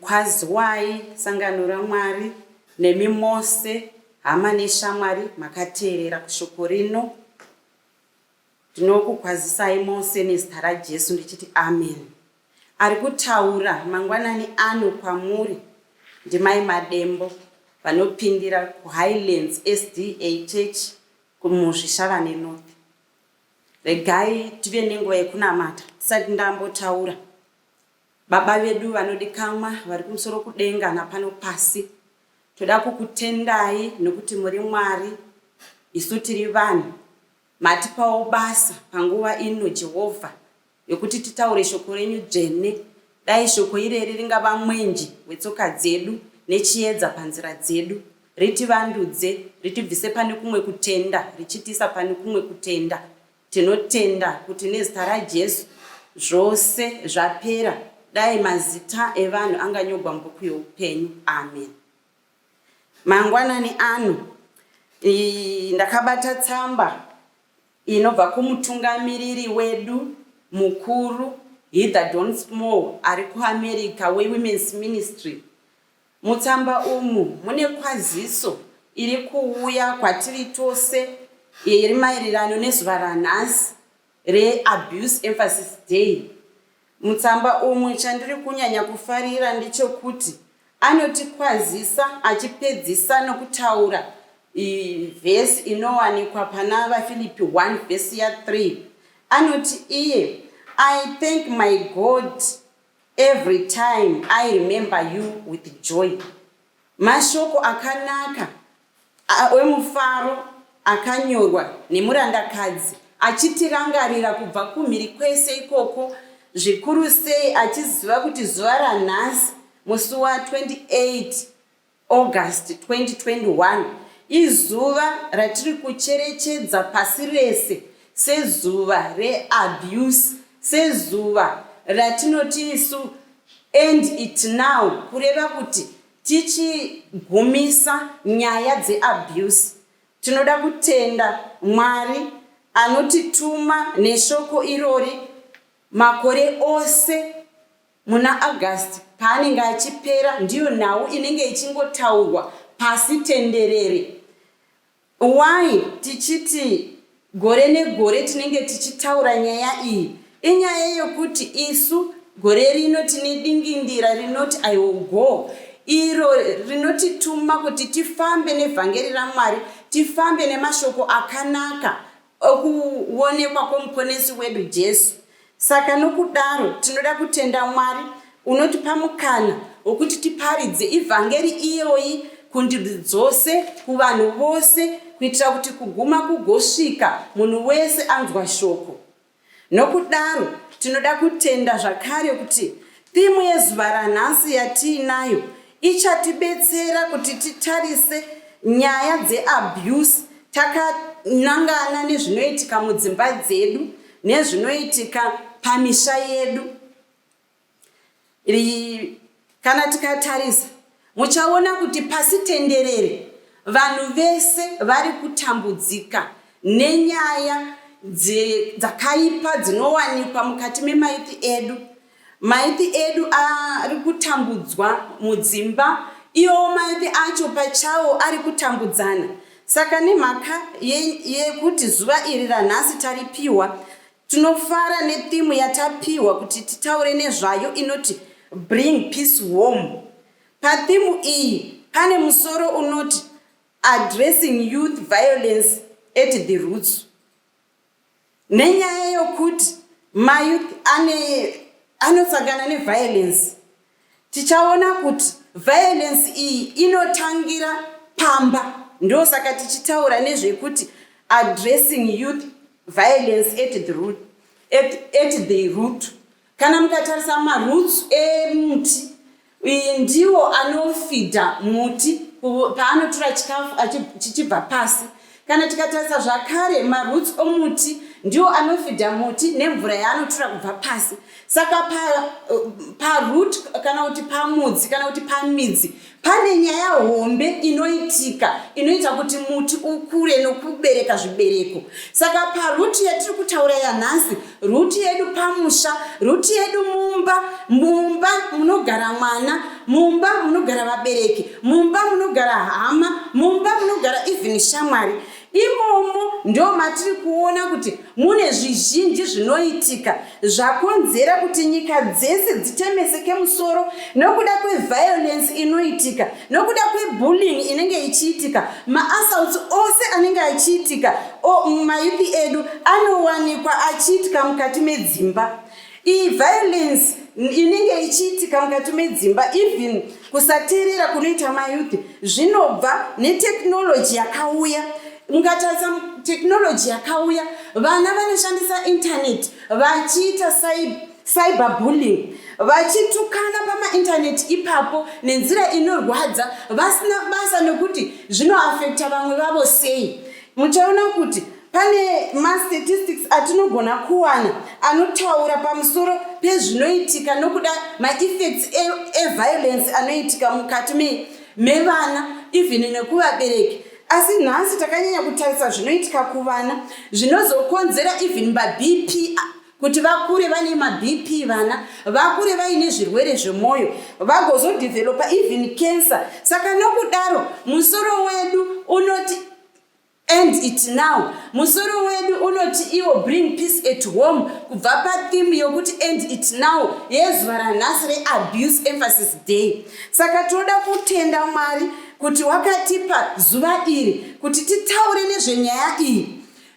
Kwaziwai sangano raMwari, nemi mose hama neshamwari makateerera kushoko rino. Ndinokukwazisai mose nezita raJesu ndichiti ameni. Ari kutaura mangwanani ano kwamuri ndiMai Madembo vanopindira kuHighlands SDA Church kuMuzvishavane North. Regai tive nenguva yekunamata tisati ndambotaura. Baba vedu vanodikamwa vari kumusoro kudenga napano pasi, toda kukutendai nokuti muri Mwari, isu tiri vanhu. Matipawo basa panguva ino, Jehovha, yokuti titaure shoko renyu dzvene. Dai shoko ireri ringava mwenje wetsoka dzedu nechiedza panzira dzedu. Ritivandudze, ritibvise pane kumwe kutenda richitiisa pane kumwe kutenda. Tinotenda kuti nezita raJesu zvose zvapera. Dai mazita evanhu anganyogwa mubhuku youpenyu. Amen. Mangwanani ano ndakabata tsamba inobva kumutungamiriri wedu mukuru Heather Don Small ari kuAmerica weWomen's Ministry Mutsamba umu mune kwaziso iri kuuya kwatiri tose iri maererano nezuva ranhasi reAbuse Emphasis Day. Mutsamba umu chandiri kunyanya kufarira ndechokuti anotikwazisa achipedzisa nokutaura vhesi inowanikwa pana vafilipi 1 vhesi ya 3 anoti iye i thank my god Every time I remember you with joy. Mashoko akanaka emufaro akanyorwa nemurandakadzi achitirangarira kubva kumhiri kwese ikoko zvikuru sei achiziva kuti zuva ranhasi musi wa 28 August 2021 izuva ratiri kucherechedza pasi rese sezuva reAbuse, sezuva ratinoti isu End It Now kureva kuti tichigumisa nyaya dzeAbuse. Tinoda kutenda Mwari anotituma neshoko irori makore ose. Muna August paanenge achipera ndiyo nhau inenge ichingotaurwa pasi tenderere. Why tichiti gore negore tinenge tichitaura nyaya iyi? Inyaya yekuti isu gore rino tine dingindira rinoti I will go iro rinotituma kuti tifambe nevhangeri raMwari, tifambe nemashoko akanaka okuonekwa kwoMuponesi wedu Jesu. Saka nokudaro tinoda kutenda Mwari unotipa mukana wokuti tiparidze ivhangeri iyoyi kundudzi dzose, kuvanhu vose, kuitira kuti kuguma kugosvika munhu wese anzwa shoko. Nokudaro, tinoda kutenda zvakare kuti thimu yezuva ranhasi yatiinayo ichatibetsera kuti titarise nyaya dzeabuse takanangana nezvinoitika mudzimba dzedu nezvinoitika pamisha yedu. Kana tikatarisa muchaona kuti pasi tenderere vanhu vese vari kutambudzika nenyaya dzakaipa dzinowanikwa mukati memaiti edu maiti edu ari kutambudzwa mudzimba iwo maiti acho pachawo ari kutambudzana saka nemhaka yekuti zuva iri ranhasi taripiwa Tinofara netheme yatapiwa kuti titaure nezvayo inoti Bring Peace Home. Patheme iyi pane musoro unoti Addressing Youth Violence at the Roots. Nenyaya yokuti mayouth ane anosangana neviolence Tichaona kuti violence iyi inotangira pamba ndosaka tichitaura nezvekuti addressing youth violence at the root, at, at the root. Kana mukatarisa maroots emuti iyi ndiwo anofidha muti paanotora chikafu chichibva pasi Kana tikatarisa zvakare maroots omuti ndiwo anofidha muti nemvura yaanotura kubva pasi saka paroot pa eh, kana kuti pamudzi kana kuti pamidzi pane nyaya hombe inoitika inoita kuti muti ukure nokubereka zvibereko saka paroot yatiri kutaura yanhasi Ruti yedu pamusha, ruti yedu mumba, mumba munogara mwana, mumba munogara vabereki, mumba munogara hama, mumba munogara even shamwari. Imomo ndo matiri kuona kuti mune zvizhinji zvinoitika zvakonzera kuti nyika dzese dzitemeseke musoro nokuda kweviolence inoitika nokuda kwebullying inenge ichiitika maassaults ose anenge achiitika mayuthi edu anowanikwa achiitika mukati medzimba iyi violence inenge ichiitika mukati medzimba even kusateerera kunoita mayuthi zvinobva netechnology yakauya mukatarisa technology yakauya vana vanoshandisa internet vachiita cyber cyberbullying, vachitukana pamaintaneti ipapo nenzira inorwadza vasina basa nekuti zvinoafekta vamwe vavo sei. Muchaona kuti pane mastatistics atinogona kuwana anotaura pamusoro pezvinoitika nokuda maeffects eviolence e anoitika mukati mevana even nekuvabereki asi nhasi takanyanya kutarisa zvinoitika kuvana zvinozokonzera even mabp kuti vakure vane mabp vana vakure vaine zvirwere zvemwoyo vagozodhevhelopa even cancer saka nokudaro musoro wedu unoti end it now musoro wedu unoti iwo bring peace at home kubva patheme yokuti end it now yezuva ranhasi reabuse emphasis day saka tinoda kutenda mwari kuti wakatipa zuva iri kuti titaure nezvenyaya iyi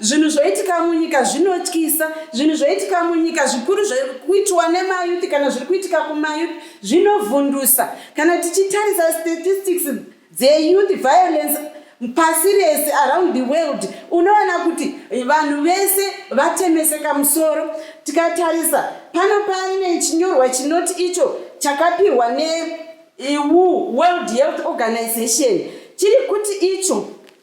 Zvinhu zvoitika munyika zvinotyisa, zvinhu zvoitika munyika zvikuru zviri kuitiwa nemayuti kana zviri kuitika kumayuti zvinovhundusa. Kana tichitarisa statistics dzeyouth violence pasi rese around the world unoona kuti vanhu vese vatemeseka musoro. Tikatarisa pano pane chinyorwa chinoti icho chakapihwa neu World Health Organization chiri kuti icho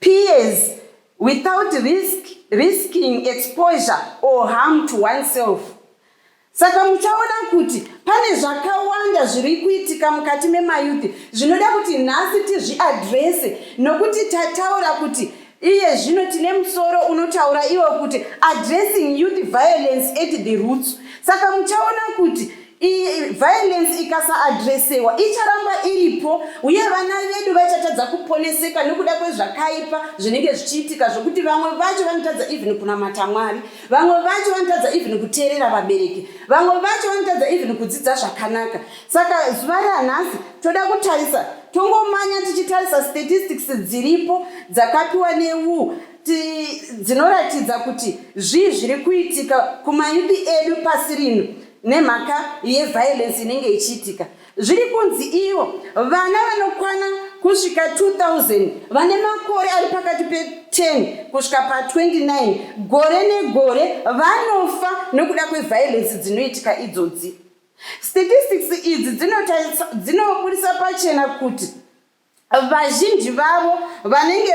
Peers without risk, risking exposure or harm to oneself. Saka muchaona kuti pane zvakawanda zviri kuitika mukati memayuthi zvinoda kuti nhasi tizviadrese nokuti tataura kuti iye zvino tine musoro unotaura iwo kuti addressing youth violence at the roots saka muchaona kuti violence ikasaadresewa icharamba iripo uye vana vedu vachatadza kuponeseka nokuda kwezvakaipa zvinenge zvichiitika zvokuti vamwe vacho vanotadza even kunamata mwari vamwe vacho vanotadza even kuteerera vabereki vamwe vacho vanotadza even kudzidza zvakanaka saka zuva ranhasi toda kutarisa tongomanya tichitarisa statistics dziripo dzakapiwa newu dzinoratidza kuti zvii zviri kuitika kumayuti edu pasi rino nemhaka yeviolence inenge ichiitika zviri kunzi ivo vana vanokwana kusvika 2000 vane makore ari pakati pe10 kusvika pa29 gore negore vanofa nokuda kweviolence dzinoitika idzodzi statistics idzi dzinoburitsa pachena kuti vazhinji vavo vanenge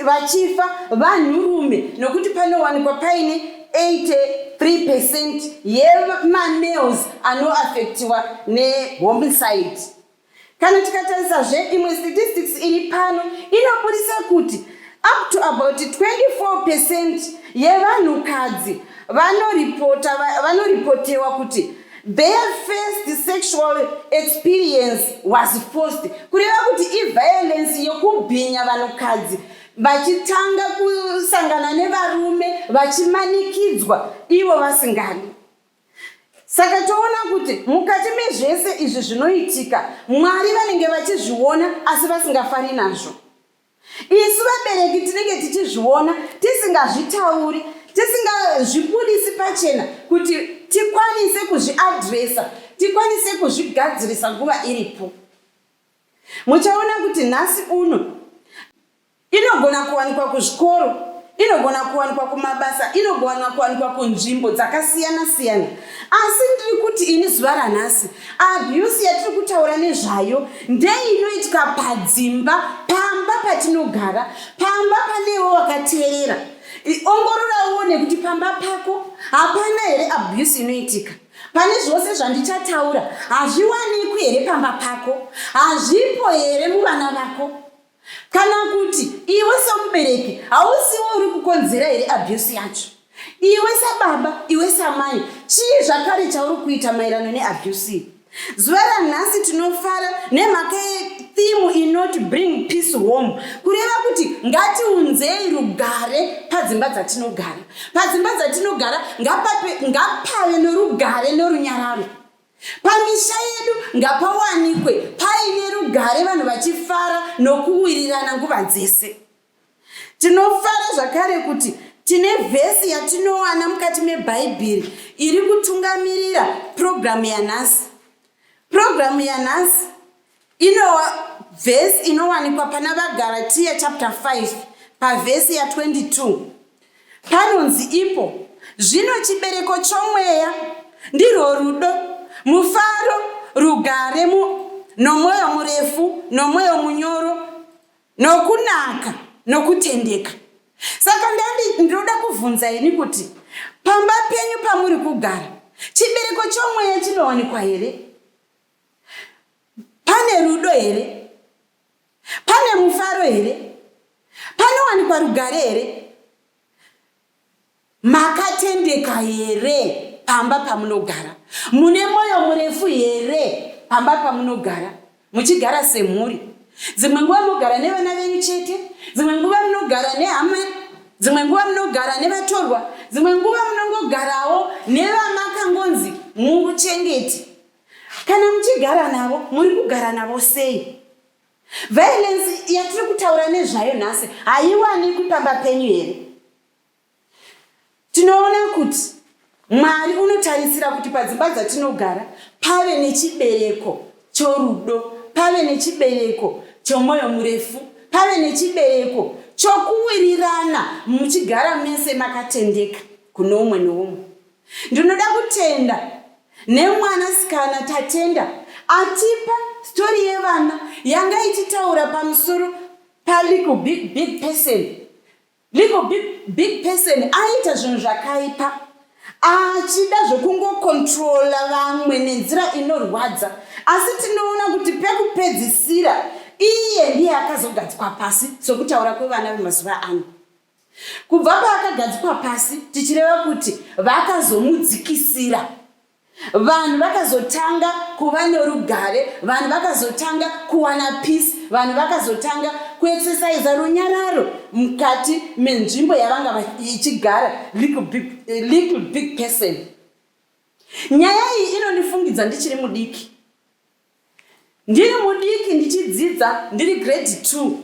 vachifa vanhurume nokuti panowanikwa paine 83 percent yemamales anoafektiwa nehomicide kana tikatarisazve imwe statistics iri pano inoburitsa kuti up to about 24 percent yevanhukadzi vanoripotewa kuti Their first sexual experience was forced kureva kuti iviolence yokubhinya vanhukadzi vachitanga kusangana nevarume vachimanikidzwa ivo vasingadi saka toona kuti mukati mezvese izvi zvinoitika mwari vanenge vachizviona asi vasingafari nazvo Isu vabereki tinenge tichizviona tisingazvitauri, tisingazvibudisi pachena kuti tikwanise kuzviadresa, tikwanise kuzvigadzirisa nguva iripo. Muchaona kuti nhasi uno inogona kuwanikwa kuzvikoro, inogona kuwanikwa kumabasa, inogona kuwanikwa kunzvimbo dzakasiyana siyana. Asi ndiri kuti ini zuva ranhasi Abuse yatiri kutaura nezvayo ndeinoitika padzimba pamba patinogara pamba panewo wakateerera ongorora uone kuti pamba pako hapana here abuse inoitika pane zvose zvandichataura hazviwanikwi here pamba pako hazvipo here muvana vako Kana kuti iwe semubereki hausiwo uri kukonzera here abuse yacho? Iwe sababa, iwe samai, chii zvakare chauri kuita maerano neabuse? Zuva ranhasi tinofara nemhaka yethimu inoti bring peace home, kureva kuti ngatiunzei rugare padzimba dzatinogara. Padzimba dzatinogara ngapave norugare norunyararo. Pamisha yedu ngapawanikwe paine rugare vanhu vachifara nokuwirirana nguva dzese. Tinofara zvakare kuti tine vhesi yatinowana mukati meBhaibheri iri kutungamirira purogiramu yanhasi. Purogiramu yanhasi Inowa vhesi inowanikwa pana vaGaratiya chapter 5 pavhesi ya 22 panonzi ipo zvino chibereko chomweya ndirwo rudo, mufaro, rugare, mu, nomwoyo murefu, nomwoyo munyoro, nokunaka, nokutendeka. Saka ndandi ndinoda kuvhunza ini kuti pamba penyu pamuri kugara chibereko chomweya chinowanikwa here? Pane rudo here? Pane mufaro here? Panowanikwa rugare here? Makatendeka here pamba pamunogara? Mune mwoyo murefu here pamba pamunogara? Muchigara semhuri, dzimwe nguva munogara nevana venyu chete, dzimwe nguva munogara nehama dzimwe nguva munogara nevatorwa dzimwe nguva munongogarawo nevamakangonzi muuchengeti Kana muchigara navo muri kugara navo sei? Violence yatiri kutaura nezvayo nhasi haiwanikwi pamba penyu here? Tinoona kuti Mwari unotarisira kuti padzimba dzatinogara pave nechibereko chorudo, pave nechibereko chomwoyo murefu, pave nechibereko chokuwirirana muchigara mese makatendeka kuno umwe noumwe. Ndinoda kutenda nemwana sikana Tatenda atipa story yevana yanga ichitaura pamusoro paliku big big person Liko big, big person aita zvinhu zvakaipa achida zvekungokontrola vamwe nenzira inorwadza asi tinoona kuti pekupedzisira iye ndiye akazogadzikwa pasi sokutaura kwevana vemazuva ano Kubva paakagadzikwa pasi, tichireva kuti vakazomudzikisira. Vanhu vakazotanga kuva norugare, vanhu vakazotanga kuwana peace, vanhu vakazotanga kuexercisa runyararo mukati menzvimbo yavanga ichigara little big, eh, little big person. Nyaya iyi inondifungidza ndichiri mudiki, ndiri mudiki ndichidzidza ndiri grade two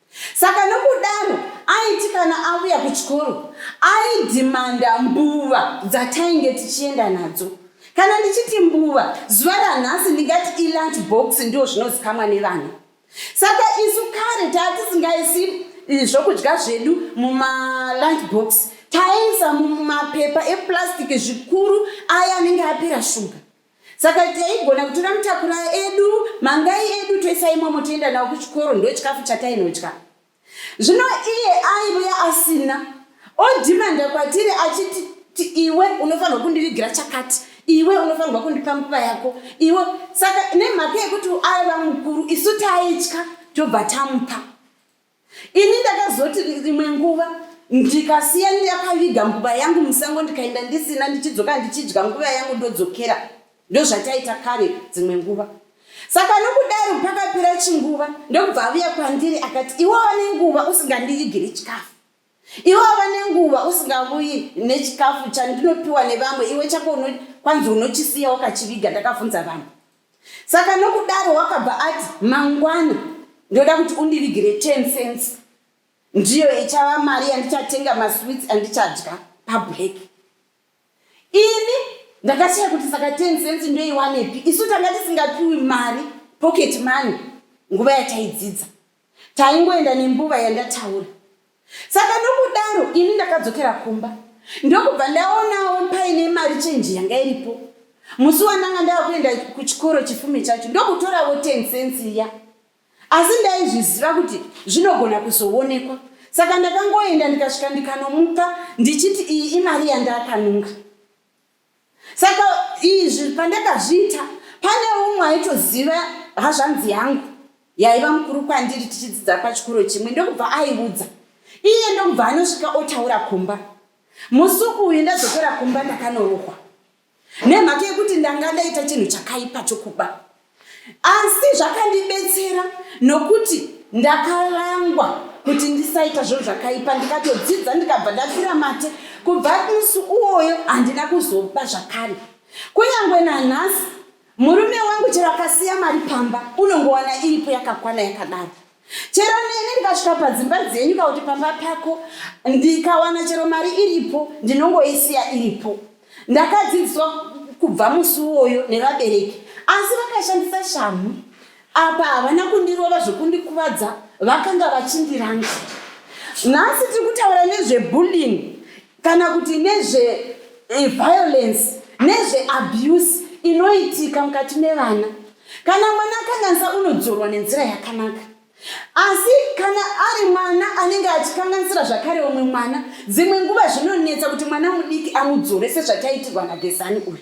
Saka nokudaro aiti kana auya kuchikoro aidhimanda mbuva dzatainge tichienda nadzo. Kana ndichiti mbuva, zuva ranhasi ndingati ilunch box ndiwo zvinozikamwa nevana. Saka isu kare taatisingaisi eh, zvokudya zvedu mumalunch box taiisa mumapepa eplastic zvikuru aya anenge apera shuga. Saka taigona kutora mutakura edu, mangai edu toisa imomo toenda nawo kuchikoro, ndochikafu chatainodya. Zvino iye aivuya asina odhimanda kwatiri achiti ti iwe unofanirwa kundivigira chakati iwe unofanirwa kundipa nguva yako iwe saka nemhaka yekuti aiva mukuru isu taitya tobva tamupa Ini ndakazoti imwe nguva ndikasiya ndakaviga mbuva yangu musango ndikaenda ndisina ndichidzoka ndichidya nguva yangu ndodzokera ndozvataita kare dzimwe nguva saka nokudaro pakapera chinguva ndokubva aviya kwandiri akati iwe wane nguva usingandivigiri chikafu Iwe wava nenguva usingavuyi nechikafu chandinopiwa nevamwe, iwe chako kwanzi unochisiya wakachiviga, ndakavhunza vamwe. Saka nokudaro wakabva ati mangwana ndoda kuti undivigire 10 cents ndiyo ichava mari yandichatenga masweets andichadya pablack. Ini ndakashaya kuti saka 10 cents ndoiwanepi, isu tanga tisingapiwi mari pocket money nguva yataidzidza. taingoenda nenguva yandataura saka nokudaro ini ndakadzokera kumba ndokubva ndaonawo paine mari chenji yanga iripo musi wandanga ndava kuenda kuchikoro chifume chacho ndokutorawo ten cents iya asi ndaizviziva kuti zvinogona kuzoonekwa saka ndakangoenda ndikasvika ndikanomupa ndichiti iyi imari yandakanunga saka izvi pandakazviita pane umwe aitoziva hazvanzi yangu yaiva mukuru kwandiri tichidzidza pachikoro chimwe ndokubva aiudza iye ndokubva anosvika otaura kumba musi uyu ndadzokera kumba ndakanorohwa nemhaka yekuti ndanga ndaita chinhu chakaipa chokuba asi zvakandibetsera nokuti ndakarangwa kuti ndisaita zvinhu zvakaipa ndikatodzidza ndikabva ndapfira mate kubva musi uwoyo handina kuzoba zvakare kunyange nanhasi murume wangu chero akasiya mari pamba unongowana iripo yakakwana yakadaro chero neni ndikasvika padzimba dzenyu ka kuti pamba pako ndikawana chero mari iripo ndinongoisiya iripo ndakadzidziswa kubva musi uwoyo nevabereki asi vakashandisa shamhu apa havana kundirova zvekundikuvadza vakanga vachindiranga nhasi tiri kutaura nezvebulling kana kuti nezveviolence nezveabuse inoitika mukati mevana kana mwana akanganisa unodzorwa nenzira yakanaka asi kana ari mwana anenge achikanganisira zvakare umwe mwana dzimwe nguva zvinonetsa kuti mwana mudiki amudzore sezvataitirwa nagezani uyu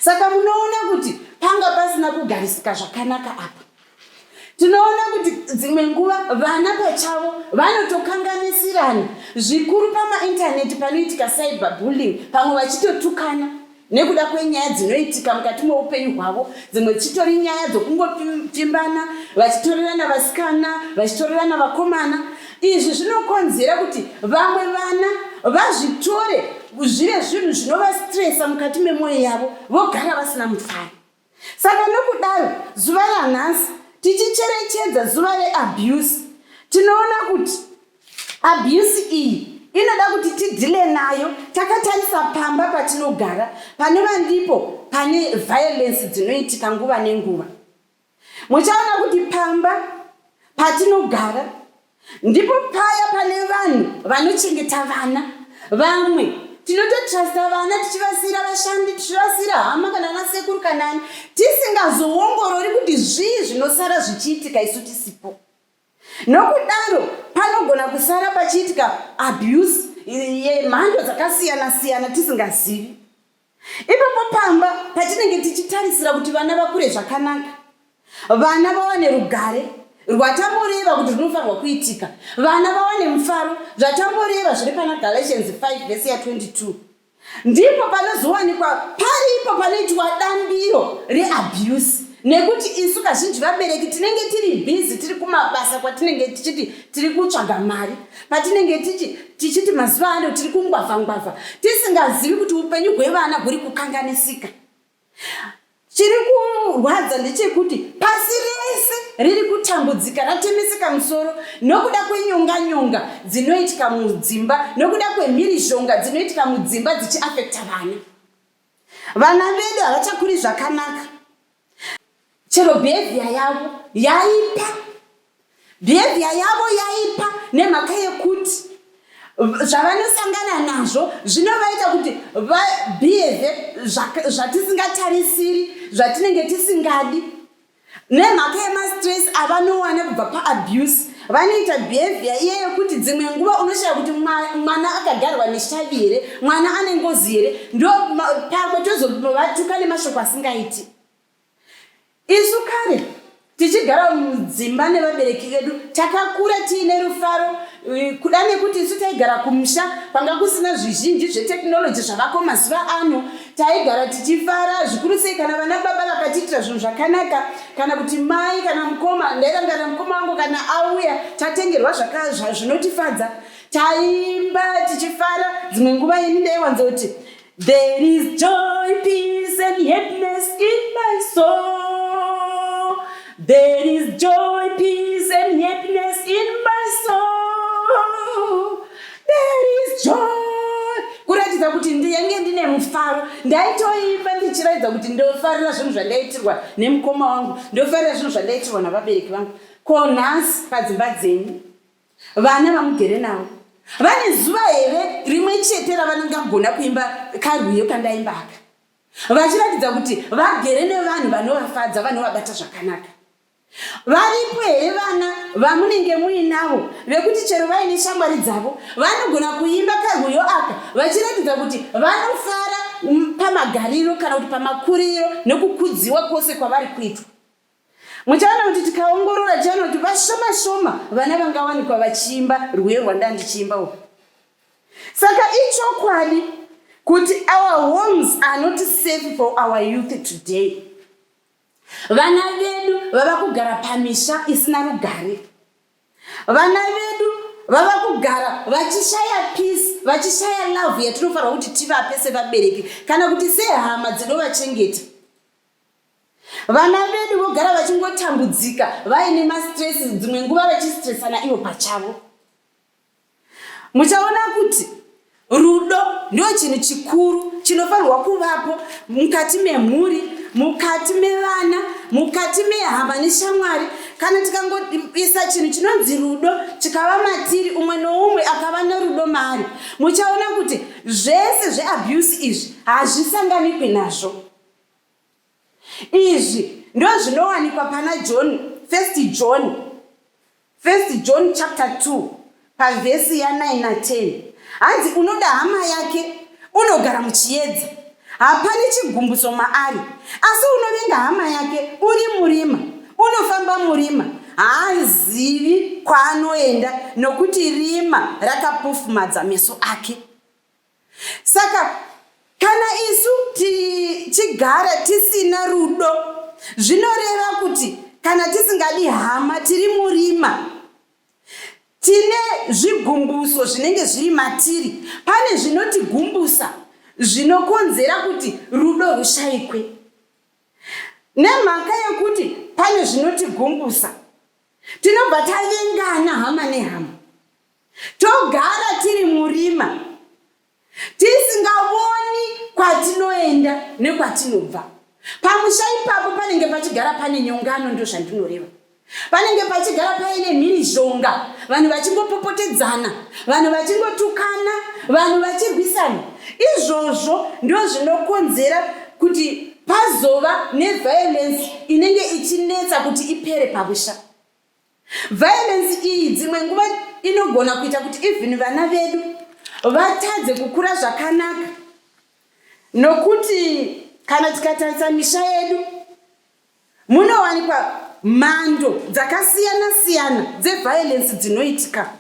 Saka munoona kuti panga pasina kugarisika zvakanaka apa. Tinoona kuti dzimwe nguva vana pachavo vanotokanganisirana zvikuru pamaintaneti panoitika cyber bullying, pamwe vachitotukana nekuda kwenyaya dzinoitika mukati meupenyu hwavo dzimwe dzichitori nyaya dzokungopfimbana vachitorerana vasikana vachitorerana vakomana Izvi zvinokonzera kuti vamwe vana vazvitore zvive zvinhu zvinovastresa mukati memwoyo yavo vogara vasina mufaro. Saka nokudaro, zuva ranhasi tichicherechedza zuva reabuse, tinoona kuti abuse iyi inoda kuti tidhile nayo takatarisa pamba patinogara panova ndipo pane violence dzinoitika nguva nenguva. Muchaona kuti pamba patinogara ndipo paya pane vanhu vanochengeta vana vamwe tinototrasta vana tichivasiyira vashandi tichivasiyira hama kana ana sekuru kana ani tisingazoongorori kuti zvii zvinosara zvichiitika isu tisipo nokudaro panogona kusara pachiitika abuse yemhando dzakasiyana siyana tisingazivi Ipapo pamba patinenge tichitarisira kuti vana vakure zvakanaka, vana vawane rugare rwatamboreva kuti rinofanirwa kuitika, vana vawane mufaro zvatamboreva zviri pana Galatians 5 vhesi ya 22 ndipo panozowanikwa paripo panoitwa dambiro reabuse nekuti isu kazhinji vabereki tinenge tiri bhizi tiri kumabasa kwatinenge tichiti tiri kutsvaga mari patinenge tichi tichiti mazuva ano tiri kungwavha ngwavha tisingazivi kuti upenyu hwevana huri kukanganisika chiri kurwadza ndechekuti pasi rese riri kutambudzika ratemeseka musoro nokuda kwenyonga nyonga dzinoitika mudzimba nokuda kwemhirizhonga dzinoitika mudzimba dzichiafekta vana Vana vedu havachakuri zvakanaka. Chero behavior yavo yaipa. Behavior yavo yaipa nemhaka yekuti zvavanosangana nazvo zvinovaita kuti vabehave zvatisingatarisiri zvatinenge tisingadi. Nemhaka yemastress avanowana kubva paabuse, vanoita behavior iye yekuti dzimwe nguva unoshaya kuti mwana akagarwa neshavi here, mwana ane ngozi here, ndo pamwe tozovatuka nemashoko asingaiti. Isu kare tichigara mudzimba nevabereki vedu takakura tiine rufaro eh, kuda nekuti isu taigara kumusha kwanga kusina zvizhinji zvetekinoloji zvavako mazuva ano Taigara tichifara zvikuru sei kana vana baba vakatiitira zvinhu zvakanaka kana kuti mai kana mukoma. Ndairangarira mukoma wangu kana auya tatengerwa zvinotifadza, taimba tichifara. Dzimwe nguva ini ndaiwanzoti there is joy peace and happiness in my soul there is joy peace and happiness in my soul There is joy kuratidza kuti ndiyange ndine mufaro ndaitoimba ndichiratidza kuti ndofarira zvinhu zvandaitirwa nemukoma wangu ndofarira zvinhu zvandaitirwa navabereki vangu ko nhasi padzimba dzenyu vana vamugere navo vane zuva here rimwe chete ravanongagona kuimba karwiyo kandaimbaka vachiratidza kuti vagere nevanhu vanovafadza vanovabata zvakanaka Varipo here vana vamunenge muinavo vekuti chero vaine shamwari dzavo vanogona kuimba karwiyo aka vachiratidza kuti vanofara pamagariro kana kuti pamakuriro nekukudziwa kwose kwavari kuitwa? Muchaona kuti tikaongorora tichaona kuti vashoma shoma vana vangawanikwa vachiimba rwiyo rwandandichiimba uku. Saka ichokwadi kuti our homes are not safe for our youth today. Vana vedu vava kugara pamisha isina rugare. Vana vedu vava kugara vachishaya peace, vachishaya love yatinofanirwa kuti tivape sevabereki kana kuti sehama dzinovachengeta. Vana vedu vogara vachingotambudzika vaine mastress, dzimwe nguva vachistresana ivo pachavo. Muchaona kuti rudo ndio chinhu chikuru chinofanirwa kuvapo mukati memhuri, mukati mevana, mukati mehama neshamwari. Kana tikangoisa chinhu chinonzi rudo chikava matiri, umwe noumwe akava norudo maari, muchaona kuti zvese zveabuse izvi hazvisanganikwi nazvo. Izvi ndozvinowanikwa pana John, First John, First John chapter 2 pavhesi ya 9 na 10. Hanzi unoda hama yake unogara muchiedza, hapane chigumbuso maari, asi unovenga hama yake uri murima, unofamba murima, haazivi kwaanoenda, nokuti rima rakapofumadza meso ake. Saka kana isu tichigara tisina rudo zvinoreva kuti kana tisingadi hama tiri murima tine zvigumbuso zvinenge zviri matiri pane zvinotigumbusa zvinokonzera kuti rudo rushaikwe nemhaka yekuti pane zvinotigumbusa tinobva tavengana hama nehama togara tiri murima tisingavoni kwatinoenda nekwatinobva pamusha ipapo panenge pachigara pane nyongano ndo zvandinoreva panenge pachigara paine mhirizhonga vanhu vachingopopotedzana vanhu vachingotukana vanhu vachirwisana izvozvo ndo zvinokonzera kuti pazova neviolence inenge ichinetsa kuti ipere pamusha Violence iyi dzimwe nguva inogona kuita kuti even vana vedu vatadze kukura zvakanaka nokuti kana tikatarisa misha yedu munowanikwa mhando dzakasiyana siyana dzeviolence dzinoitika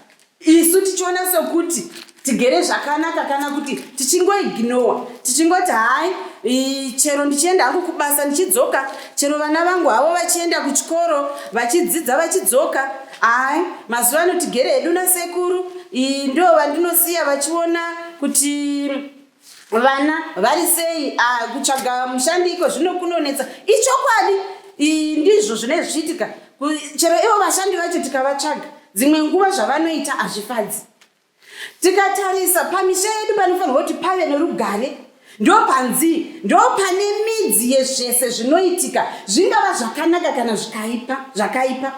isu tichiona sekuti tigere zvakanaka kana kuti tichingoignowa tichingoti hai chero ndichienda hangu kubasa ndichidzoka chero vana vangu havo vachienda kuchikoro vachidzidza vachidzoka hai mazuva ano tigere hedu nasekuru ndo vandinosiya vachiona kuti vana vari sei ah, kutsvaga mushandi iko zvino kunonetsa ichokwadi ndizvo zvine zvichiitika chero ivo vashandi vacho tikavatsvaga dzimwe nguva zvavanoita hazvifadzi tikatarisa pamisha yedu panofanirwa kuti pave nerugare ndo panzi ndo pane midzi yezvese zvinoitika zvingava zvakanaka kana zvikaipa zvakaipa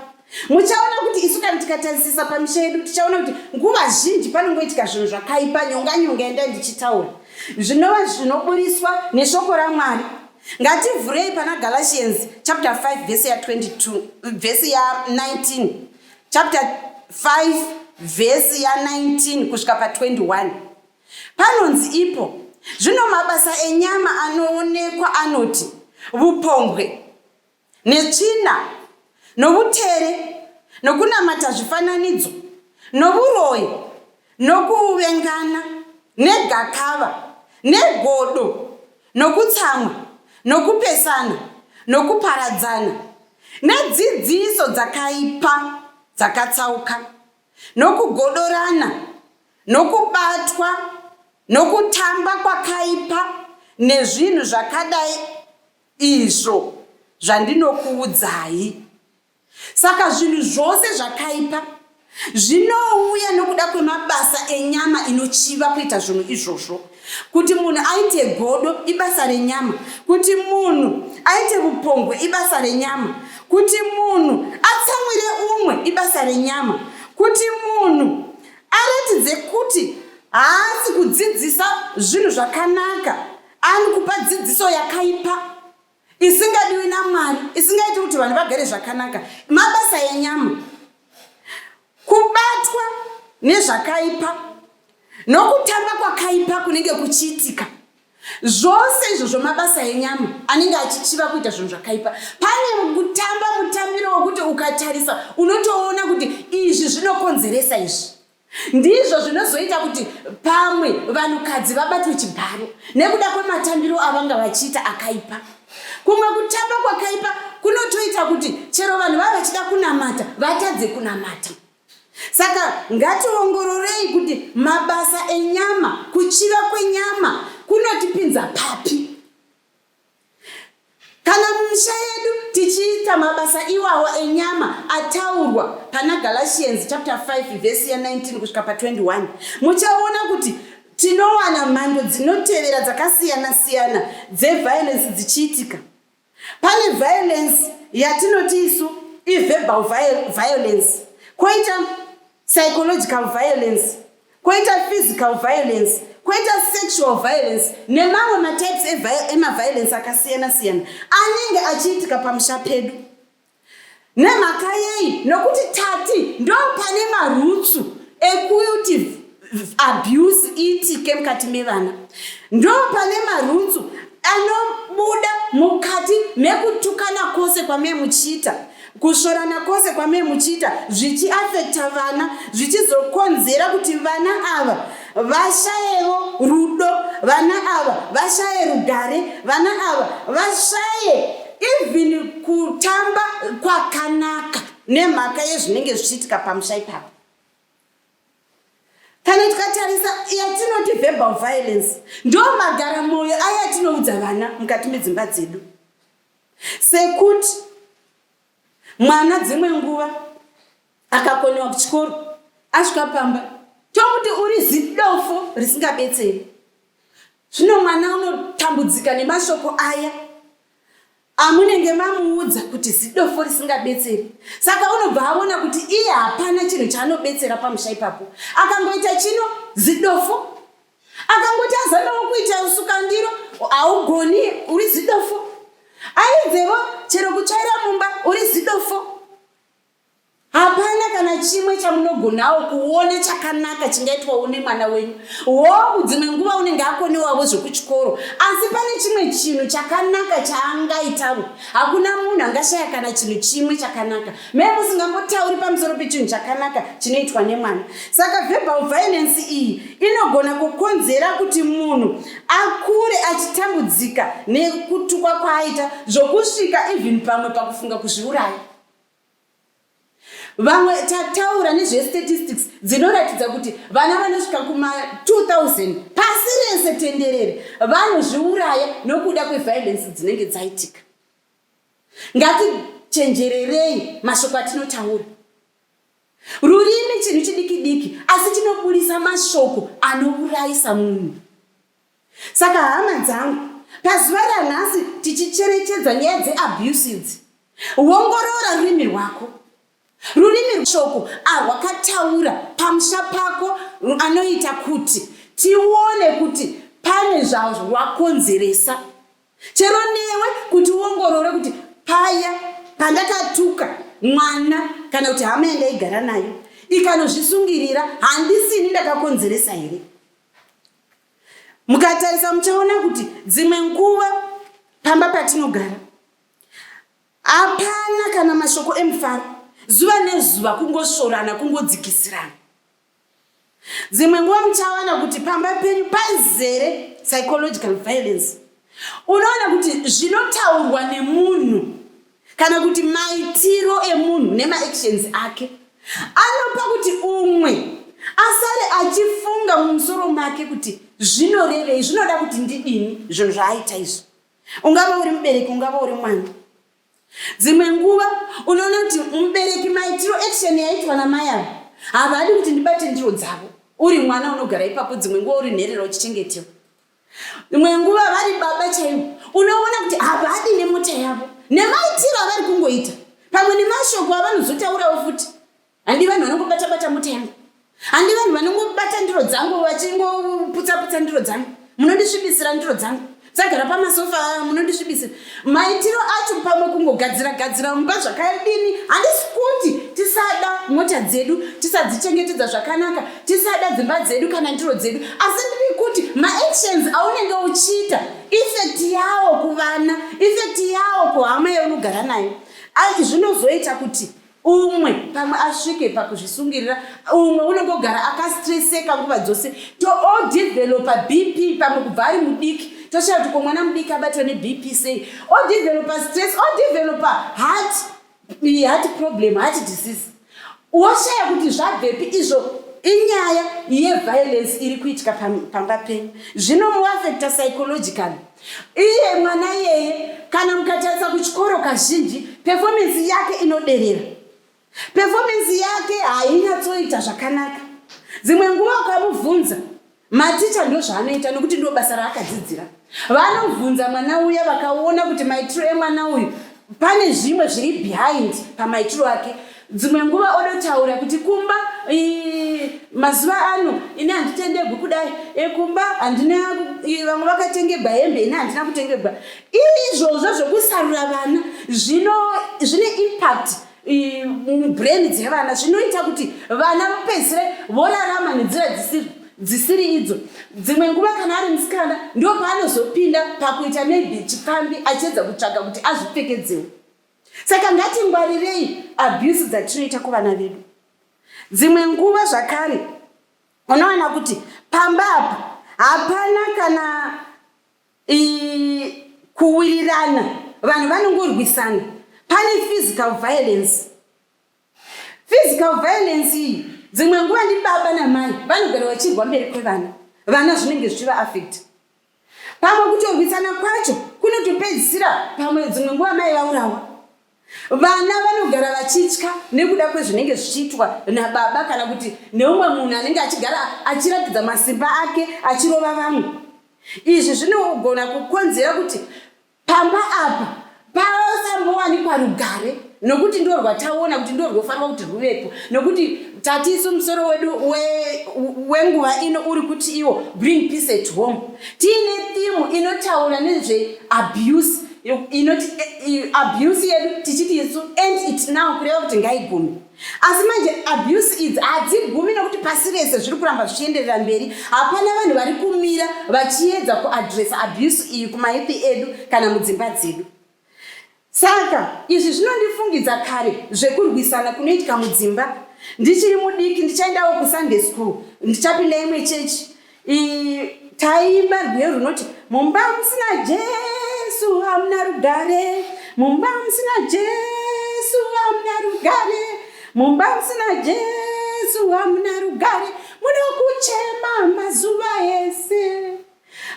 Muchaona kuti isu kana tikatarisisa pamisha yedu tichaona kuti nguva zhinji panongoitika zvinhu zvakaipa nyonga nyonga yandai ndichitaura zvinova zvinoburitswa neshoko ramwari ngativhurei pana galatians chapter 5 vhesi ya 22 vhesi ya 19 chapter 5 vhesi ya 19 kusvika pa 21 panonzi ipo zvino mabasa enyama anoonekwa anoti vupombwe netsvina, novutere, nokunamata zvifananidzo, novuroyi, nokuvengana, negakava, negodo, nokutsamwa, nokupesana, nokuparadzana, nedzidziso dzakaipa dzakatsauka, nokugodorana, nokubatwa nokutamba kwakaipa nezvinhu zvakadai, Izvo zvandinokuudzai. Saka zvinhu zvose zvakaipa zvinouya nokuda kwemabasa enyama inochiva kuita zvinhu izvozvo. Kuti munhu aite godo ibasa renyama, kuti munhu aite vupongwe ibasa renyama, kuti munhu atsamwire umwe ibasa renyama, kuti munhu aratidze kuti haasi kudzidzisa zvinhu zvakanaka, Ani kupa dzidziso yakaipa isingadiwi namwari isingaiti kuti vanhu vagare zvakanaka mabasa enyama kubatwa nezvakaipa nokutamba kwakaipa kunenge kuchiitika zvose izvo zvomabasa enyama anenge achichiva kuita zvinhu zvakaipa pane kutamba mutambiro wokuti ukatarisa unotoona kuti izvi zvinokonzeresa izvi Ndizvo zvinozoita kuti pamwe vanhukadzi vabatwe chibharo nekuda kwematambiro avanga vachiita akaipa. Kumwe kutamba kwakaipa kunotoita kuti chero vanhu vava vachida kunamata vatadze kunamata. Saka ngationgororei kuti mabasa enyama, kuchiva kwenyama kunotipinza papi. Kana mumisha yedu tichiita mabasa iwawo enyama ataurwa pana Galatians chapter 5 verse ya 19 kusvika pa 21, muchaona kuti tinowana mhando dzinotevera dzakasiyana siyana dzeviolence dzichiitika. Pane violence yatinoti isu iverbal violence, koita psychological violence koita physical violence koita sexual violence nemamwe matypes emaviolence akasiyana siyana anenge achiitika pamusha pedu nemhaka yei nokuti tati ndo pane marutsu ekuti abuse iitike mukati mevana ndo pane marutsu anobuda mukati mekutukana kwose kwamee muchiita Kusvorana kwose kwamee muchiita zvichiafekta vana zvichizokonzera kuti vana ava vashayevo rudo, vana ava vashaye rugare, vana ava vashaye even kutamba kwakanaka nemhaka yezvinenge zvichiitika pamusha ipapo. Kana tikatarisa yatinoti verbal violence ndo magara mwoyo aya atinoudza vana mukati medzimba dzedu. Sekuti mwana dzimwe nguva akakonewa kuchikoro asvika pamba tokuti uri zidofo risingabetseri. Zvino mwana unotambudzika nemashoko aya amunenge mamuudza kuti zidofo risingabetseri. Saka unobva aona kuti iye hapana chinhu chaanobetsera pamusha ipapo. Akangoita chino zidofo akangoti azamawo kuita usukandiro haugoni uri zidofo aidzevo chero kutsvaira mumba uri zidofo hapana kana chimwe chamunogonawo kuone chakanaka chingaitwa une mwana wenyu hoo dzimwe nguva unenge akonewavo zvekuchikoro asi pane chimwe chinhu chakanaka chaangaitavo hakuna munhu angashaya kana chinhu chimwe chakanaka Me, musingambotauri pamusoro pechinhu chakanaka chinoitwa nemwana saka verbal violence iyi inogona kukonzera kuti munhu akure achitambudzika nekutukwa kwaaita zvokusvika even pamwe pakufunga kuzviuraya vamwe tataura nezvestatistics dzinoratidza kuti vana vanosvika kuma2000 pasi rese tenderere vanozviuraya nokuda kweviolence dzinenge dzaitika Ngatichenjererei mashoko atinotaura. Rurimi chinhu chidiki diki asi chinoburitsa mashoko anourayisa munhu. Saka hama dzangu, pazuva ranhasi tichicherechedza nyaya dzeabuse idzi, wongorora rurimi rwako. Rurimi rweshoko arwakataura pamusha pako anoita kuti tione kuti pane zvarwakonzeresa. Chero newe kuti uongorore kuti paya pandakatuka mwana kana kuti hama yandaigara nayo ikanozvisungirira handisini ndakakonzeresa here? Mukatarisa muchaona kuti dzimwe nguva pamba patinogara Hapana kana mashoko emufaro, zuva nezuva kungosvorana, kungodzikisirana. Dzimwe nguva muchawana kuti pamba penyu pazere psychological violence. Unoona kuti zvinotaurwa nemunhu kana kuti maitiro emunhu nemaactions ake anopa kuti umwe asare achifunga mumusoro make kuti zvinorevei, zvinoda kuti ndidini zvinhu zvaaita izvo. Ungava uri mubereki, ungava uri mwana. Dzimwe nguva unoona kuti mubereki maitiro action yaitwa namai avo havadi kuti ndibate ndiro dzavo. Uri mwana unogara ipapo, dzimwe nguva uri nherera uchichengetewa. Imwe nguva vari baba chaivo, unoona kuti havadi nemota yavo nemaitiro avari kungoita, pamwe nemashoko avanozotaurawo futi. Handi vanhu vanongobata bata mutengo. Handi vanhu vanongobata ndiro dzangu vachingoputsa putsa ndiro dzangu. Munondisvibisira ndiro dzangu. Sagara pamasofa munondisvibisira. Maitiro acho pamwe kungogadzira gadzira mumba zvakadini? Handisi kuti tisada mota dzedu, tisadzichengetedza zvakanaka, tisada dzimba dzedu kana ndiro dzedu. Asi ndiri kuti maactions aunenge uchiita effect yawo kuvana, effect yawo kuhama yaunogara nayo. Zvinozoita kuti umwe pamwe asvike pakuzvisungirira umwe unenge ogara akastreseka nguva dzose to all developa bp pamwe kubva ari mudiki toshaya kuti ko mwana mudiki abatwa nebp sei all developa stress all developa heart heart problem heart disease woshaya kuti zvabvepi izvo inyaya yeviolence iri kuitika pamba penyu zvinomuafecta psychologically Iye mwana iyeye kana mukatarisa kuchikoro kazhinji performance yake inoderera. Performance yake hainyatsoita zvakanaka. Dzimwe nguva ukamubvunza maticha ndozvaanoita nokuti ndobasa raakadzidzira. Vanobvunza mwana uya vakaona kuti maitiro emwana uyu pane zvimwe zviri behind pamaitiro ake dzimwe nguva odotaura kuti kumba mazuva ano ini handitendegwi kudai ekumba handina vamwe vakatengebwa hembe ini handina kutengebwa izvozvo zvekusarura vana zvine impact mubrain dzevana zvinoita kuti vana vapedzisire vorarama nenzira dzisiri dzisiri idzo dzimwe nguva kana ari musikana ndo paanozopinda pakuita maybe chipfambi achiedza kutsvaga kuti azvipfekedzewo saka ngatingwarirei abuse dzatinoita kuvana vedu dzimwe nguva zvakare unoona kuti pamba apa hapana kana kuwirirana vanhu vanongorwisana pane physical violence physical violence iyi dzimwe nguva ndi baba namai vanogara vachirwa mberi kwevana vana zvinenge zvichiva affect pamwe kutorwisana kwacho kunotopedzisira pamwe dzimwe nguva mai vaurawa Vana vanogara vachitya nekuda kwezvinenge zvichiitwa nababa kana kuti neumwe munhu anenge achigara achiratidza masimba ake achirova vamwe. Izvi zvinogona kukonzera kuti pamba apa pasambowanikwa rugare nokuti ndo rwataona kuti ndo rwofanirwa kuti rwuvepo nokuti tati isu musoro wedu wenguva we ino uri kuti iwo bring peace at home tiine thimu inotaura nezveabuse inoti eh, abuse yedu tichiti isu end it now kureva kuti ngaigume asi manje abuse idzi hadzigumi nekuti pasi rese zviri kuramba zvichienderera mberi hapana vanhu vari kumira vachiedza kuadresa abuse iyi kumaipi edu kana mudzimba dzedu saka izvi zvinondifungidza kare zvekurwisana kunoitika mudzimba ndichiri mudiki ndichaendawo kusunday school ndichapinda imwe chechi Taimba rwiyo runoti mumba musina Jesu hamuna rugare, mumba musina Jesu hamuna rugare, mumba musina Jesu hamuna rugare, munokuchema mazuva ese.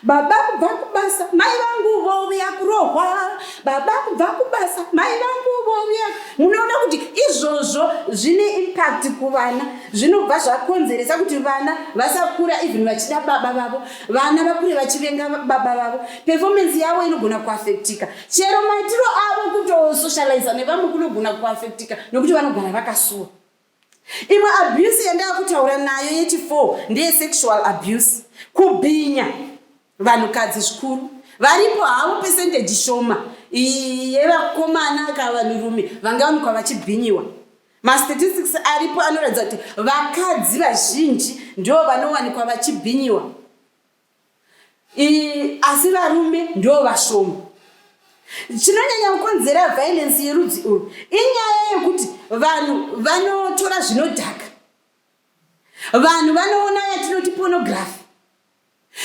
Baba kubva kubasa, mai vangu vouya kurohwa. Baba kubva kubasa, mai vangu vouya. Munoona kuti izvozvo zvine impact kuvana. zvinobva zvakonzeresa kuti vana vasakura even vachida baba vavo vana vakure vachivenga baba vavo performance yavo inogona kuafectika chero maitiro avo kutosocializa nevamwe kunogona kuafectika nokuti vanogara vakasuwa imwe abuse yandava kutaura nayo yechi4 ndeyesexual abuse kubhinya Vanhukadzi zvikuru varipo havo pesendeji shoma yevakomana ka vanhurume vangawanikwa vachibhinyiwa. Mastatistics aripo anoratidza kuti vakadzi vazhinji ndivo vanowanikwa vachibhinyiwa asi varume ndivo vashoma. Chinonyanya kukonzera vhailensi yerudzi urwu inyaya yekuti vanhu vanotora zvinodhaka, vanhu vanoona yatinoti pornography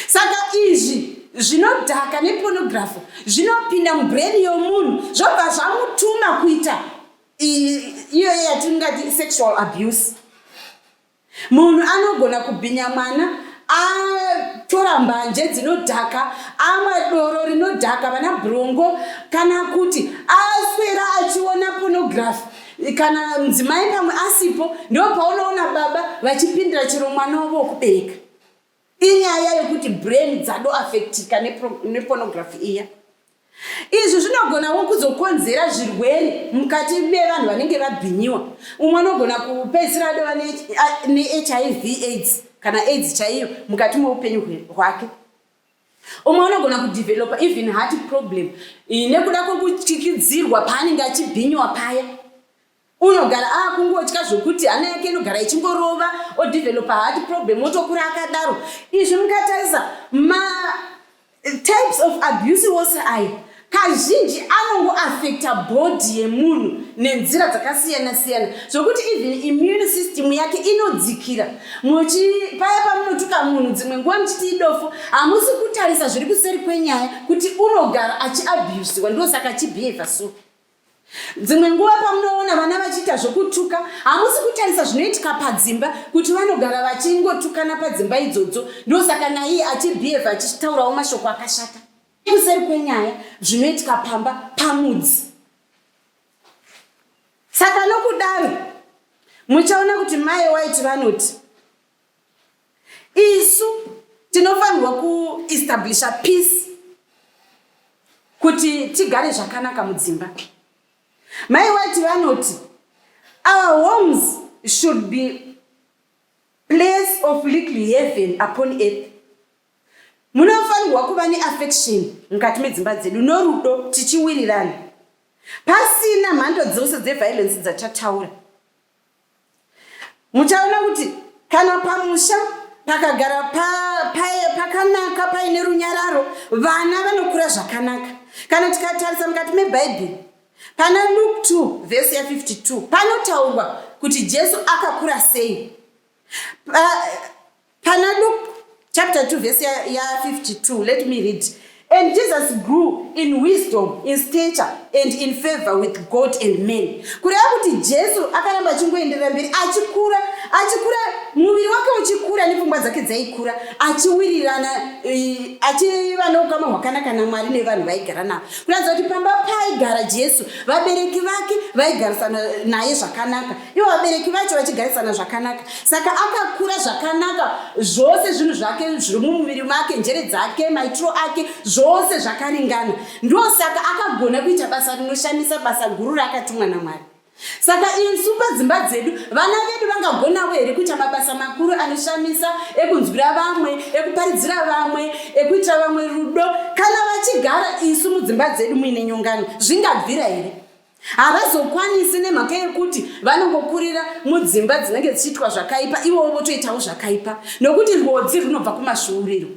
Saka izvi zvinodhaka nepornography zvinopinda mubrain yomunhu zvobva zvamutuma kuita iyoyo yatingati sexual abuse. Munhu anogona kubhinya mwana atora mbanje dzinodhaka, amwa doro rinodhaka, vana brongo, kana kuti aswera achiona pornography kana mudzimai pamwe asipo, ndo paunoona baba vachipindira chero mwana wavo wokubereka. Inyaya yekuti brain dzadoafectika nepornography iya. Izvi zvinogonawo kuzokonzera zvirwere mukati mevanhu vanenge vabhinyiwa. Umwe anogona kupedzisira adova neHIV aids kana aids chaiyo mukati meupenyu hwake. Umwe anogona kudevelopa even heart problem nekuda kwekutyikidzirwa paanenge achibhinyiwa paya. unogara akungotya zvokuti hana yake inogara ichingorova odevelopa hard problem otokura akadaro izvi mukatarisa ma eh, types of abuse wose aya kazhinji anongo affecta body yemunhu nenzira dzakasiyana siyana zvokuti even immune system yake inodzikira muchipaya pamunotuka munhu dzimwe nguva muchiti idofo hamusi kutarisa zviri kuseri kwenyaya kuti unogara achiabusiwa ndosaka achibehavha so Dzimwe nguva pamunoona vana vachiita zvokutuka, hamusi kutarisa zvinoitika padzimba kuti vanogara vachingotukana padzimba idzodzo, ndosaka naiye achibhiyevha achitaurawo mashoko akashata. Kuseri kwenyaya zvinoitika pamba pamudzi. Saka nokudaro muchaona kuti mai waiti vanoti Isu tinofanirwa kuestablisha peace kuti tigare zvakanaka mudzimba. Mai White vanoti our homes should be place of little heaven upon earth. Munofanirwa kuva neaffection mukati medzimba dzedu norudo tichiwirirana pasina mhando dzose dzeviolence dzatataura. muchaona kuti kana pamusha pakagara pakanaka paine runyararo vana vanokura zvakanaka kana tikatarisa mukati mebhaibheri pana luk 2 vhesi ya 52 panotaurwa kuti jesu akakura sei Pana Luke chapter 2 verse ya, ya 52 let me read And Jesus grew in wisdom, in stature, and in favor with God and men. Kureva kuti Jesu akaramba achingoenderera mberi achikura, achikura muviri wake uchikura nepfungwa dzake dzaikura, achiwirirana achiva neukama hwakanaka naMwari nevanhu vaigara navo. Kuratidza kuti pamba paigara Jesu, vabereki vake vaigarisana naye zvakanaka. ivo vabereki vacho vachigarisana zvakanaka saka akakura zvakanaka zvose zvinhu zvake zviri mumuviri make njere dzake maitiro ake zvose zvakaringana ndo saka akagona kuita basa rinoshamisa basa guru raakatumwa namwari saka insu padzimba dzedu vana vedu vangagonavo here kuita mabasa makuru anoshamisa ekunzwira vamwe ekuparidzira vamwe ekuitira vamwe rudo kana vachigara isu mudzimba dzedu muine nyongano zvingabvira here havazokwanisi nemhaka yekuti vanongokurira mudzimba dzinenge dzichiitwa zvakaipa ivowo votoitawo zvakaipa nokuti rwodzi runobva kumasvuuriro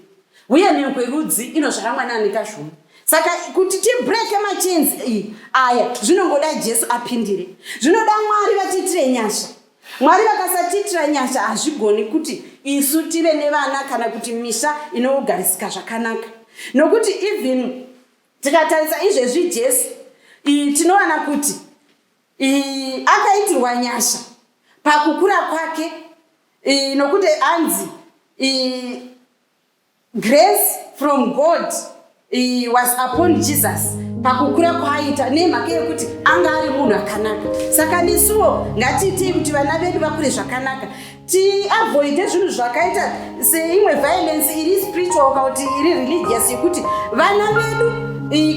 uye mhiko yerudzi inozvara mwana anekazvuma saka kuti tibreke machenzi iyi aya zvinongoda jesu apindire zvinoda mwari vatiitire nyasha mwari vakasatiitira nyasha hazvigoni kuti isu tive nevana kana kuti misha inogarisika zvakanaka nokuti even Tikatarisa izvezvi Jesu tinowana kuti akaitirwa nyasha pakukura kwake nokuti anzi grace from God was upon Jesus pakukura kwaaita nemhaka yekuti anga ari munhu akanaka saka nesuwo ngatiitei kuti vana vedu vakure zvakanaka tiavoide zvinhu zvakaita seimwe violence iri spiritual kana kuti iri religious yekuti vana vedu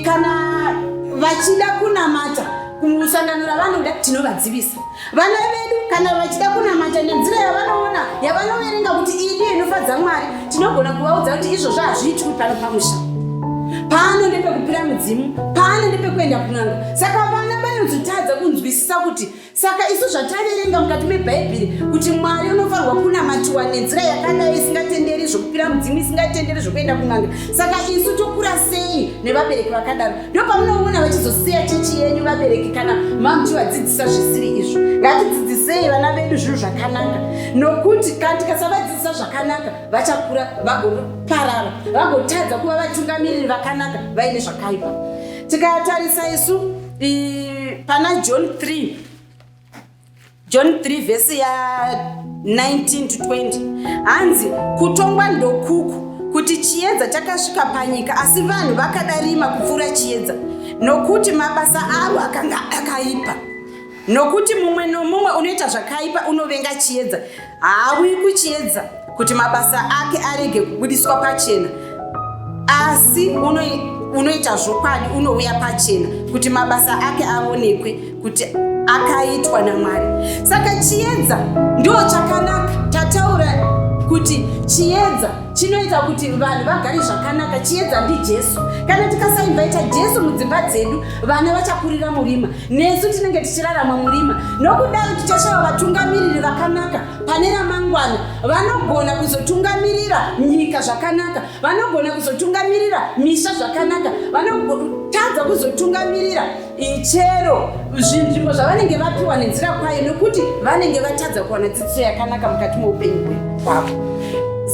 kana vachida kunamata kumusangano ravanoda tinovadzivisa vana vedu kana vachida kunamata nenzira yavanoona yavanoverenga kuti iyi ndiyo inofadza mwari tinogona kuvaudza kuti izvozvo hazviitwi pano pamusha pano ndepekupira mudzimu pano ndepekuenda kunanga saka vana vanozotadza kunzwisisa kuti saka isu zvataverenga mukati mebhaibheri kuti mwari unofanirwa kunamatiwa nenzira yakadai isingatenderi zvokupira mudzimu isingatenderi zvokuenda kun'anga saka isu tokura sei nevabereki vakadaro ndo pamunoona vachizosiya chechi yenyu vabereki kana mamuchivadzidzisa zvisiri izvo ngatidzidzisei vana vedu zvinhu zvakanaka nokuti kana tikasavadzidzisa zvakanaka vachakura vagoparara vagotadza kuva vatungamiriri vakanaka vaine zvakaipa tikatarisa isu pana john 3 john 3 vhesi ya 19 to 20 hanzi kutongwa ndokuku kuti chiedza chakasvika panyika asi vanhu vakada rima kupfuura chiedza nokuti mabasa avo akanga akaipa nokuti mumwe nomumwe unoita zvakaipa unovenga chiedza Haauyi kuchiedza kuti mabasa ake arege kubudiswa pachena, asi unoita zvokwadi, unouya pachena kuti mabasa ake aonekwe kuti akaitwa naMwari. Saka chiedza ndo chakanaka. Tataura kuti chiedza chinoita kuti vanhu vagare zvakanaka. Chiedza ndiJesu. Kana tikasainvaita Jesu mudzimba dzedu vana vachakurira murima nesu tinenge tichirarama murima nokudaro tichashava vatungamiriri vakanaka pane ramangwana vanogona kuzotungamirira nyika zvakanaka vanogona kuzotungamirira misha zvakanaka vanotadza kuzotungamirira ichero zvinzvimbo zvavanenge vapiwa nenzira kwayo nokuti vanenge vatadza kuwana dzidziso yakanaka mukati meupenyu hwavo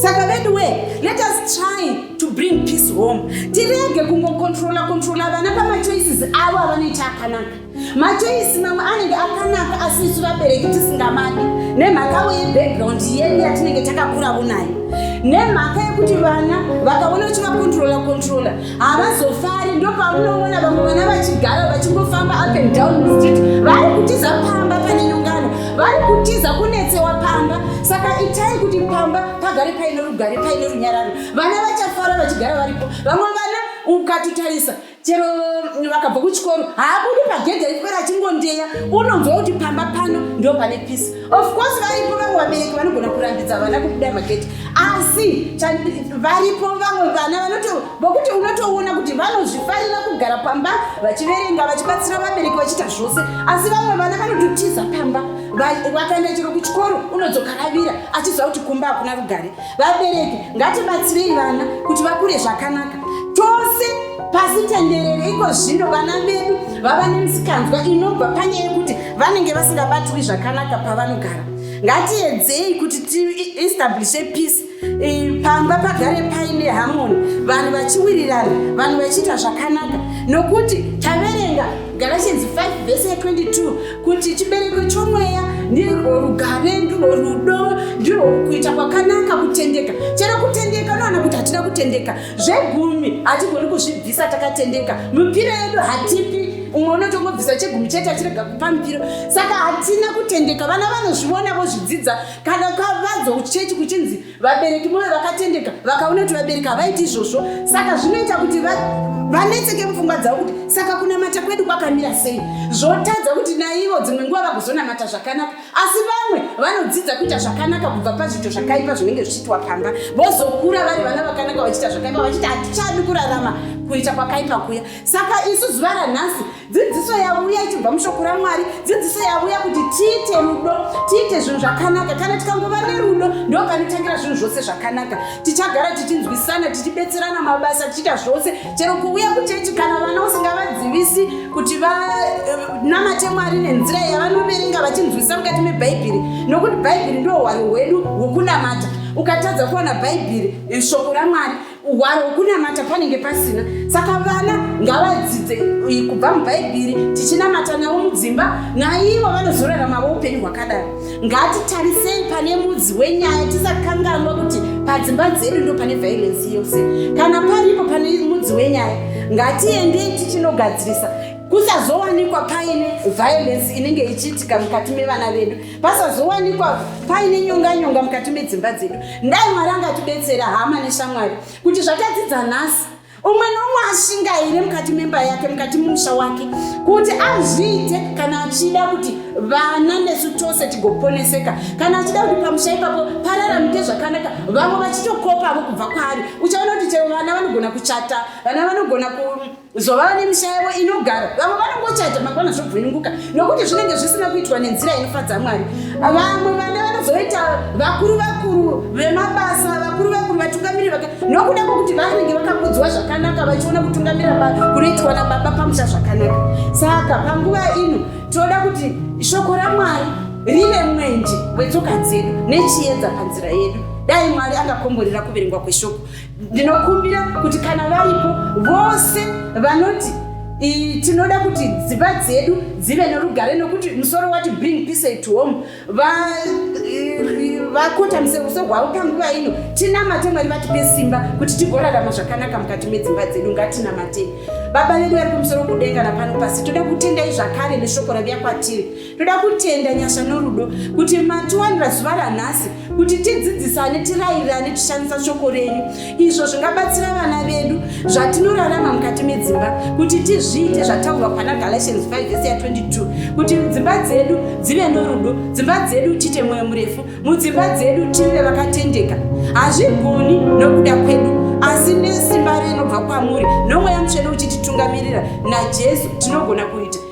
saka veduwee let us try to bring peace home tirege kungokontrola kontrola vana pamachoices avo avanoita akanaka machoisi mamwe anenge akanaka asi isu vabereki tisingamadi nemhakavo yebackground yedu yatinenge takakuravo nayo nemhaka yekuti vana vakaona uchivakontrola kontrola havazofari ndo paunoona vamwe vana vachigara vachingofamba up and down mustreet vari kutiza pamba pane nyongano vari kutiza kunetsewa pamba saka itai kuti pamba pagare paine rugare paine runyararo vana vachafara vachigara varipo vamwe vana ukatitarisa chero vakabva kuchikoro haabudi pagedhi aipera achingondeya unonzwa kuti pamba pano ndo pane pisi of course varipo vamwe vabereki vanogona kurambidza vana kubuda magedhi asi varipo vamwe vana vanoto vokuti unotoona kuti vanozvifarira kugara pamba vachiverenga vachibatsira vabereki vachiita zvose asi vamwe vana vanototiza pamba vakaenda chero kuchikoro unodzokaravira achiziva kuti kumba hakuna rugare Vabereki ngatibatsirei vana kuti vakure zvakanaka tose pasi tenderere. Iko zvino vana vedu vava nemisikanzwa inobva panyaya yekuti vanenge vasingabatwi zvakanaka pavanogara. Ngatiedzei kuti tiestablishe peace eh, pamba pagare paine harmony, vanhu vachiwirirana, vanhu vachiita zvakanaka nokuti taverenga Galatians 5 vese 22 kuti chibereko chomweya ndirwo rugare ndirwo rudo ndirwo kuita kwakanaka kutendeka chero kutendeka unoona kuti hatida kutendeka zvegumi hatigoni kuzvibvisa takatendeka mipiro yedu hatipi umwe unotongobvisa chegumi chete achirega kupa mipiro saka hatina kutendeka vana vanozviona vozvidzidza kana kavadzwa kuchechi kuchinzi vabereki moyo vakatendeka vakaona kuti vabereki havaiti izvozvo saka zvinoita kuti vanetseke mupfungwa dzavo kuti saka kunamata kwedu kwakamira sei zvotadza kuti naivo dzimwe nguva vagozonamata zvakanaka asi vamwe vanodzidza kuita zvakanaka kubva pazviito zvakaipa zvinenge zvichiitwa pamba vozokura vari vana vakanaka vachiita zvakaipa vachiti hatichadi kurarama kuita kwakaipa kuya saka isu zuva ranhasi dzidziso yavuya ichibva mushoko ramwari dzidziso yavuya kuti tiite rudo tiite zvinhu zvakanaka kana tikangova nerudo ndo panotangira zvinhu zvose zvakanaka tichagara tichinzwisana tichibetserana mabasa tichiita zvose chero kuuya kuchechi kana vana usingavadzivisi kuti vanamate eh, mwari nenzira yavanoverenga vachinzwisisa mukati mebhaibheri nokuti bhaibheri ndo hwaro hwedu hwekunamata ukatadza kuwana bhaibheri eh, shoko ramwari Hwaro hwokunamata panenge pasina, saka vana ngavadzidze kubva mubhaibheri tichinamata navo mudzimba, naivo vanozoraramawo upenyu hwakadaro. Ngatitarisei pane mudzi wenyaya, tisakanganwa kuti padzimba dzedu ndo pane vhairensi yose. Kana paripo pane mudzi wenyaya, ngatiendei tichinogadzirisa kusazowanikwa paine vhairensi inenge ichiitika mukati mevana vedu. pasazowanikwa paine nyonga nyonga mukati medzimba dzedu ndai mwari angatibetsera hama neshamwari kuti zvatadzidza nhasi umwe nomwe ashingaire mukati memba yake mukati mumusha wake kuti azviite kana achida kuti vana nesu tose tigoponeseka kana achida kuti pamusha ipapo pararamike zvakanaka vamwe vachitokopavo kubva kwaari uchaona kuti chero vana vanogona kuchata vana vanogona ku zvovava nemisha yavo inogara vamwe vanongochata mangwana zvobvunuka nokuti zvinenge zvisina kuitwa nenzira inofadza mwari vamwe vana vanozoita vakuru vakuru vemabasa vakuru vakuru vatungamiri vaka nokuda kwokuti vanenge vakakudzwa zvakanaka vachiona kutungamira kunoitwa nababa pamusha zvakanaka saka panguva ino tinoda kuti shoko ramwari rive mwenje wetsoka dzedu nechiedza panzira yedu dai mwari angakomborera kuverengwa kweshoko Ndinokumbira kuti kana varipo vose vanoti tinoda kuti dzimba dzedu dzive norugare nokuti musoro wati bring peace to home vakota museruso rwavo panguva ino tinamate mwari vatipe simba kuti tigorarama zvakanaka mukati medzimba dzedu ngatinamatei baba vedu vari kumusoro kudenga napano pasi toda kutendai zvakare neshoko raviya kwatiri Toda kutenda nyasha norudo kuti matiwanira zuva ranhasi kuti tidzidzisane, tirairane, tishandisa shoko renyu, izvo zvingabatsira vana vedu zvatinorarama mukati medzimba kuti tizviite zvataurwa pana Galatians 5 vese ya 22 kuti dzimba dzedu dzive norudo, dzimba dzedu tiite mwoyo murefu, mudzimba dzedu tive vakatendeka. Hazvigoni nokuda kwedu asi nesimba rinobva kwamuri nomweya mutsvene uchititungamirira naJesu tinogona kuita